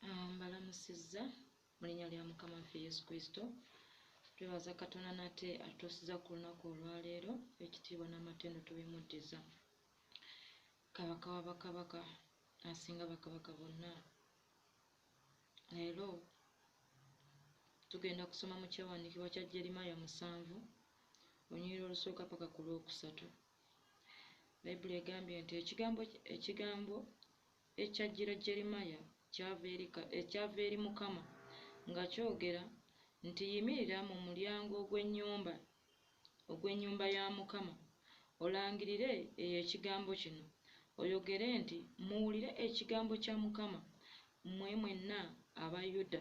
Ah, mbalamusizza mu linnya lya mukama waffe yesu kristo twebaza katonda nate atuusiza ku lunaku olwaleero ekitiibwa n'amatendo tubimuddiza kabaka wa bakabaka asinga bakabaka bonna leero tugenda kusoma mu kyawandiikibwa kya jeremaya musanvu onyirira olusooka paka ku lwokusatu Bayibuli egambye nti ekigambo, ekigambo ekyajjira Jeremiya kyava eri, kyava eri Mukama nga kyogera nti, Yimirira mu mulyango ogw'ennyumba, ogw'ennyumba ya Mukama, olangirire eyo ekigambo kino, oyogere nti, Muwulire ekigambo kya Mukama, mmwe mwenna aba Yuda.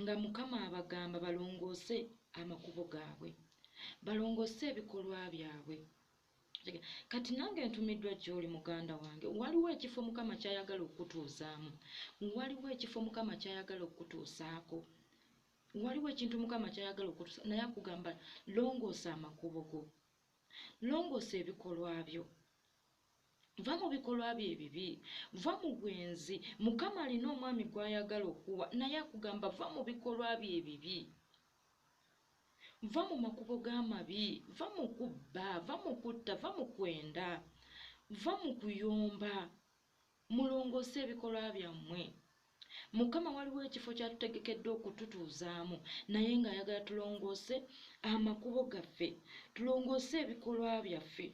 Nga Mukama abagamba balongoose amakubo gaabwe, balongoose ebikolwa byabwe. Kati nange ntumiddwa gy'oli muganda wange. Waliwo ekifo Mukama ky'ayagala okukutuuzaamu. Waliwo ekifo Mukama ky'ayagala okukutuusaako. Waliwo ekintu Mukama ky'ayagala okukutuusa, naye akugamba longoosa amakubo go, longoosa ebikolwa byo. Va mu bikolwa byo ebibi. Va mu bwenzi. Mukama alina omwami gw'ayagala okuwa, naye akugamba va mu bikolwa byo ebibi. Va mu makubo g'amabi. Va mu kubba. Va mu kutta. Va mu kwenda. Va mu kuyomba. Mulongoose ebikolwa byammwe. Mukama waliwo ekifo ky'atutegekedde okututuuzaamu, naye ng'ayagala tulongoose amakubo gaffe, tulongoose ebikolwa byaffe.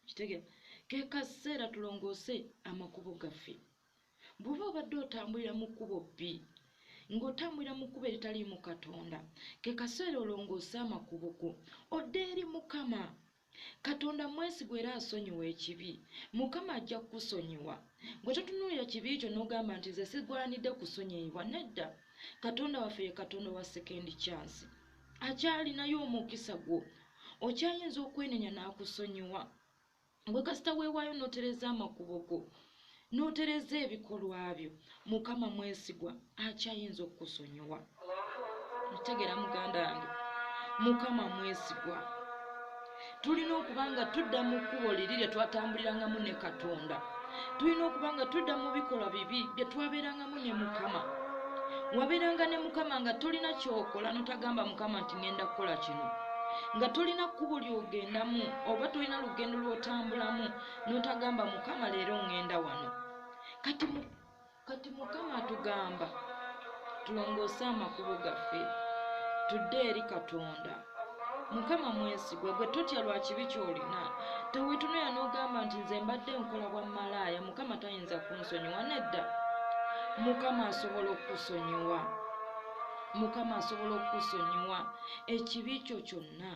kitegera kekaseera tulongoose amakubo gaffe bwoba obadde otambulira mu kkubo bbi ng'otambulira mu kkubo eritaliimu katonda kekaseera olongoose amakubo go odde eri mukama katonda mwesigwa era asonyiwa ekibi mukama ajja kukusonyiwa gwe totunuulira kibi kyo n'ogamba nti nze sigwanidde kusonyiyibwa nedda katonda waffe ye katonda wa sekendi kyansi akyalinayo omukisa gwo okyayinza okwenenya n'akusonyiwa gwe kasita weewaayo n'otereza amakubo go n'otereza ebikolwa byo mukama mwesigwa akyayinza okukusonyiwa ntegeera muganda wange mukama mwesigwa tulina okuba nga tudda mu kkubo liri lye twatambulirangamu ne katonda tulina okuba nga tudda mu bikolwa bibi bye twabeerangamu ne mukama wabeeranga ne mukama nga tolina kyokola notagamba mukama nti ŋenda kukola kino nga tolina kkubo lyogendamu oba tolina lugendo lwotambulamu notagamba mukama leero ŋenda wano kati Kati Mukama atugamba tulongoose amakubo gaffe tudde eri Katonda. Mukama mwesigwa, gwe totya lwa kibi ky'olina. Teweetunuya n'ogamba nti nze mbadde nkola bwa malaaya, Mukama tayinza kunsonyiwa. Nedda, Mukama asobola okukusonyiwa. Mukama asobola okukusonyiwa ekibi kyo kyonna.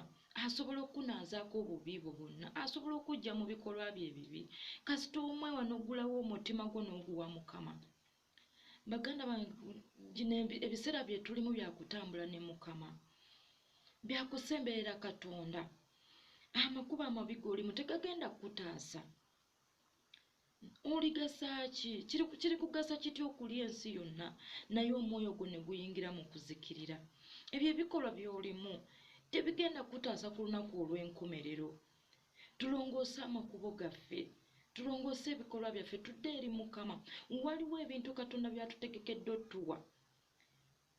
asobola okukunaazaako obubi bwo bwonna asobola okujja mu bikolwa bye ebibi kasita omwewa n'oggulawo omutima gwo n'oguwa mukama baganda bange gino ebiseera bye tulimu byakutambula ne mukama byakusemberera katonda amakuba amabi golimu tegagenda kukutaasa oligasa ki kiri kugasa kitya okulya ensi yonna naye omwoyo gwo ne guyingira mu kuzikirira ebyo ebikolwa by'olimu tebigenda kutaasa ku lunaku olw'enkomerero tulongoose amakubo gaffe tulongoose ebikolwa byaffe tudde eri mukama waliwo ebintu katonda byatutegekedde otuwa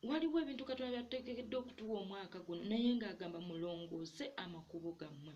waliwo ebintu katonda byatutegekedde okutuwa omwaka guno naye ng'agamba mulongoose amakubo gammwe